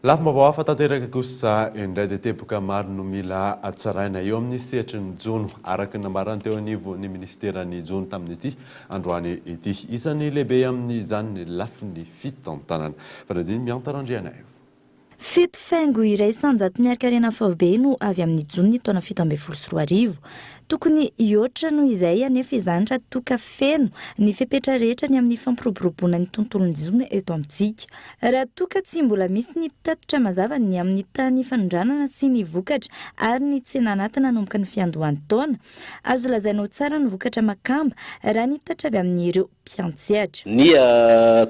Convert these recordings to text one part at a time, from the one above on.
Lafim-baovao hafa tanteraka kosa indray dia teboka maro no mila tsaraina eo amin'ny sehatry ny jono, araka ny nambarany teo anivon'ny minisiteran'ny jono tamin'ity androany ity. Isan'ny lehibe amin'izany ny lafiny fitantanana. Fanadin'i Mianta Randrianaivo. Fito faingo iraisam-jaton'ny harikarena faobe no avy amin'ny jonon'ny taona fito ambin'ny folo sy roa arivo. Tokony hihoatra noho izay anefa izany raha toa ka feno ny fepetra rehetra ny amin'ny fampiroboroboana ny tontolon'ny zona eto amintsika. Raha toa ka tsy mbola misy ny tatitra mazava ny amin'ny tany fanondranana sy ny vokatra ary ny tsena anaty nanomboka ny fiandohan'ny taona, azo lazaina ho tsara ny vokatra makamba raha ny tatitra avy amin'ireo mpiantsehatra. Ny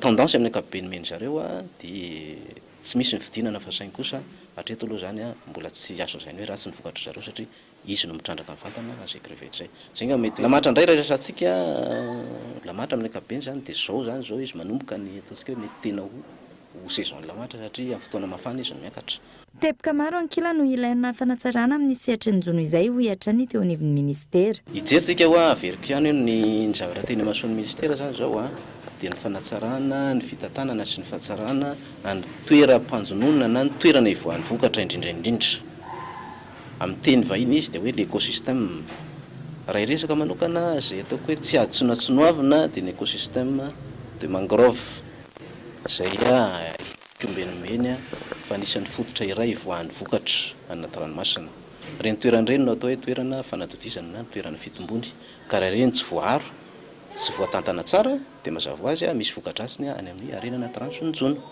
tendance amin'ny ankapobeny omen'ny zareo dia tsy misy ny fidinana fa saingy kosa hatreto aloha izany mbola tsy azo lazaina hoe ratsy ny vokatry zareo satria Izy no mitrandraka ny vantana raha zay crevette zay. Zay ngamba mety hoe. Lamatra ndray resatsika lamatra amin'ny ankapobeny zany dia zao zany zao izy manomboka ny ataontsika hoe mety tena ho ho saison ny lamatra satria amin'ny fotoana mafana izy no miakatra. Teboka maro ankilany no ilaina fanatsarana amin'ny sehatry ny jono izay hoy hatrany ny teo anivon'ny minisitera. Hijery tsika hoa averiko ihany hoe ny ny zavatra teny imasoan'ny minisitera zany zao a dia ny fanatsarana ny fitantanana sy ny fahatsarana an'ny toeram-panjononana na ny toerana hivoahan'ny vokatra indrindra indrindra. Amin'ny teny vahiny izy dia hoe ny écosystème. Raha hiresaka manokana, izay ataoko hoe tsy atsonatsonoavina dia ny écosystème de mangrove, izay ikombenimbeny fa anisan'ny fototra iray ivoahan'ny vokatra any anaty ranomasina. Ireny toerana ireny no atao hoe toerana fanadodizana na toerana fitombony, ka raha ireny tsy voaaro, tsy voatantana tsara dia mazava ho azy misy voka-dratsiny any amin'ny harena anaty rano sy ny jono.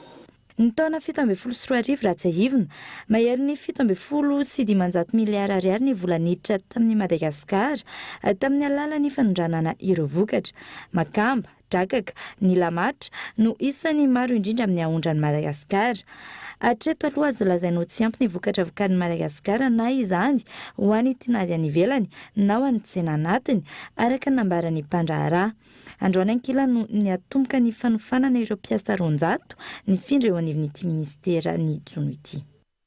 Ny taona fito ambin'ny folo sy roa arivo raha tsiahivina, mahery ny fito ambin'ny folo sy dimanjato miliara ariary ny vola niditra tamin'i Madagasikara tamin'ny alalan'ny fanondranana ireo vokatra. Makamba, drakaka, ny lamatra no isan'ny maro indrindra amin'ny aondran'i Madagasikara. Hatreto aloha azo lazaina ho tsy ampy ny vokatra vokarin'i Madagasikara na izany ho an'ny tinady any ivelany na ho an'ny tsena anatiny, araka ny nambaran'ny mpandraharaha. Androany ankilany no niatomboka ny fanofanana ireo mpiasa roanjato nifindra eo anivon'ity minisitera ny jono ity.